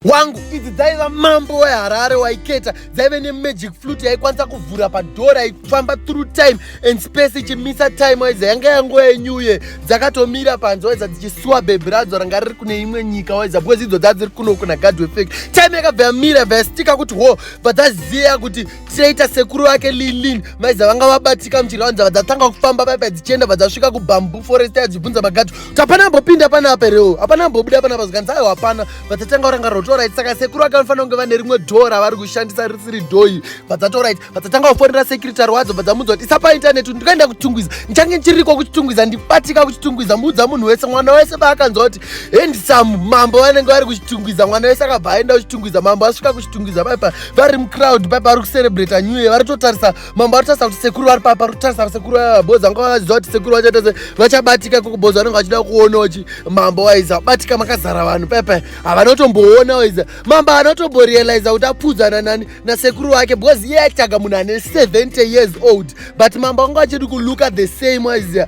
wangu idzi dzaiva mambo weharare waiketa dzaive nemagic flute yaikwanisa kuvhura padhora ikufamba through time and space ichimisa time waiza yanga yanguva yenyuye dzakatomira panze waiza dzichisuwa bhebhi radzo ranga riri kune imwe nyika waiza because idzo dzadziri kuno kuna gadwefek time yakabva yamira yabva yastika kuti ho bva dzaziva kuti Traitor sekuru vake Lilin vaiza vanga vabatika muchirwa nzava dzatanga kufamba paipa dzichienda vadzasvika kubamboo forest yadzibvunza magati kuti hapana ambopinda pana apa reo hapana ambobuda pana apa zvikanzi aiwa hapana vadzatanga kuranga rotorit saka sekuru vake vanofanira kunge vane rimwe dhoo ravari kushandisa risiri dhoi vadzatorit vadzatanga kufonera sekiritari wadzo vadzamuudza kuti isa paintaneti kuti ndikaenda kuchitungwiza ndichange ndichiriko kuchitungwiza ndibatika kuchitungwiza muudza munhu wese mwana wese paakanzwa kuti handsome mambo vanenge vari kuchitungwiza mwana wese akabva aenda kuchitungwiza mambo asvika kuchitungwiza paipa vari mucrowd paipa vari kucerebrata new year vari totarisa mambo vari kutarisa kuti sekuru vari papa vari kutarisa sekuru vavaboza vanga vaziva kuti sekuru vachaita se vachabatika kukuboza vanenge vachida kuona kuti mambo waiza vabatika makazara vanhu paipa havana kutomboona waiza mambo havana kutomborealiza kuti apfudzana nani nasekuru wake because iye aitaga munhu ane 70 years old but mambo vanga vachidi kuluka the same waiziva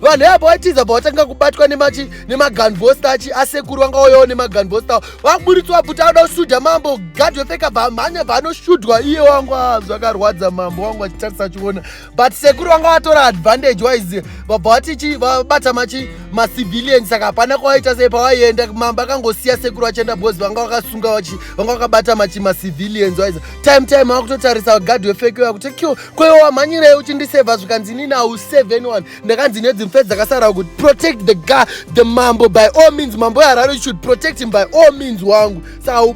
vanhu yapa waitiza bva watanga kubatwa nemachi nemaganvostachi asekuru vanga wauyawo nemaganvosta waburitswa bvuti anoda kusudha mambo gadhi wepfeka bva mhanya bva anosudhwa iye wangu ah, zvakarwadza mambo wangu achitarisa achiona but sekuru vanga watora advantage wise vabva watichi vabata machi macivilian saka hapana kwawaita sei pawaienda mambo akangosiya sekuru vachienda bhozi vanga wakasunga vachi vanga wakabata machi macivilians wise time time wakutotarisa gadhi wepfekewa kuti kyo kwewe wamhanyirei uchindisevha zvikanzi inini au seven one ndakanzi nedzi mfe dzakasara kuti protect the guy the mambo by all means mambo weharare you should protect him by all means wangu sa